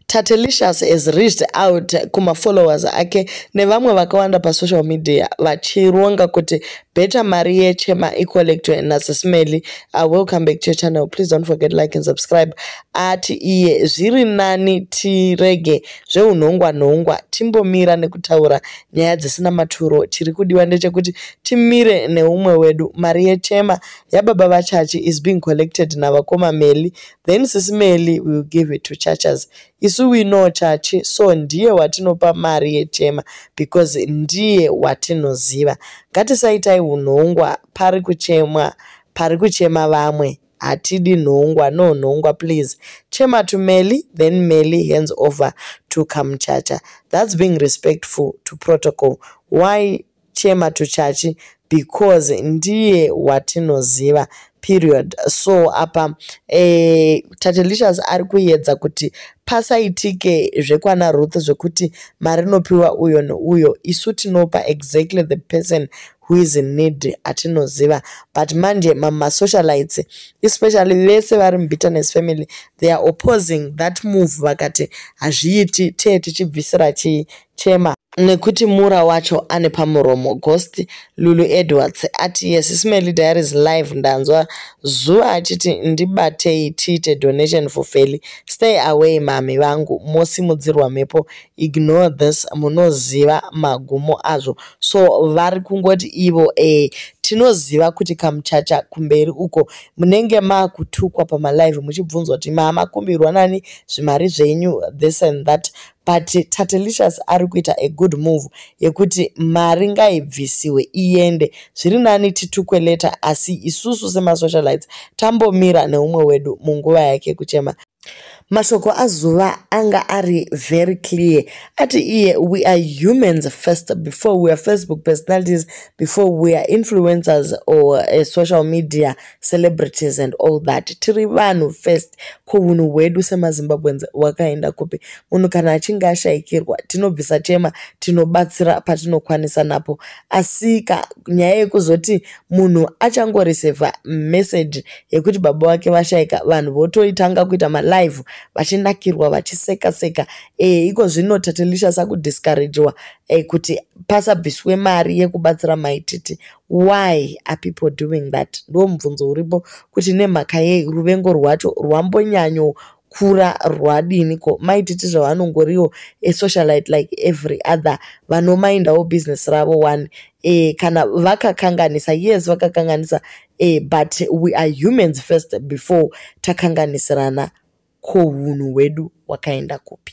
Tatelicious has reached out kumafollowers ake nevamwe vakawanda pasocial media vachironga kuti better mari yechema icollectwe nasismely uh, welcome back to your channel please don't forget like and subscribe ati iye zviri nani tirege zveunhongwa nhongwa timbomira nekutaura nyaya dzisina maturo chiri kudiwa ndechekuti timire neumwe wedu mari yechema yababa vachachi is being collected navakoma meli Then sisi Melly will give it to Chachas. Isu we know Chachi, so ndiye watinopa mari yechema because ndiye watinoziva. Ngatisaitai unhongwa pari kuchemwa, pari kuchema vamwe. Hatidi nhongwa, no nhongwa please. Chema to Melly, then Melly hands over to Kamchacha. That's being respectful to protocol. Why Chema to Chachi because ndiye watinoziva period so apa eh, tatelicious ari kuyedza kuti pasaitike zvekwana ruth zvekuti mari inopiwa uyo neuyo isu tinopa exactly the person who is in need atinoziva but manje mamasocialites especially vese vari mubitterness family they are opposing that move vakati hazviiti tee tichibvisira chii Chema. Nekuti Mura wacho ane pamuromo. Ghost. Lulu Edwards ati yes Smelly Diaries live ndanzwa Zuva achiti ndibatei tiite donation for Feli. Stay away mhamhi vangu mosimudzirwa mhepo ignore this munoziva magumo azvo so vari kungoti ivo eh tinoziva kuti kamuchacha kumberi uko munenge makutukwa pamalive muchibvunzwa kuti maamakumbirwa nani zvimari zvenyu this and that but Tatelicious ari kuita a good move yekuti mari ngaibvisiwe iende zviri nani titukwe later asi isusu semasocialites tambomira neumwe wedu munguva yake kuchema mashoko azuva anga ari very clear ati iye we are humans first before we are facebook personalities before we are influencers or uh, social media celebrities and all that tiri vanhu first ko hunhu hwedu semazimbabweans hwakaenda kupi munhu kana achinge ashayikirwa tinobvisa chema tinobatsira patinokwanisa napo asika nyaya yekuzoti munhu achangoresevha message yekuti baba vake vashayika vanhu votoitanga kuita malive vachinakirwa vachiseka seka e, iko zvino tatelisha sakudiscouragewa e, eh, kuti pasabviswe mari yekubatsira maititi Why are people doing that? Ndo mubvunzo uripo kuti nemhaka yei ruvengo rwacho rwambonyanyo kura rwadini ko mai titi zvavo vanongoriwo a socialite like every other vanomaindawo business ravo one e, kana vakakanganisa yes vakakanganisa e, but we are humans first before takanganisirana ko hunhu hwedu wakaenda kupi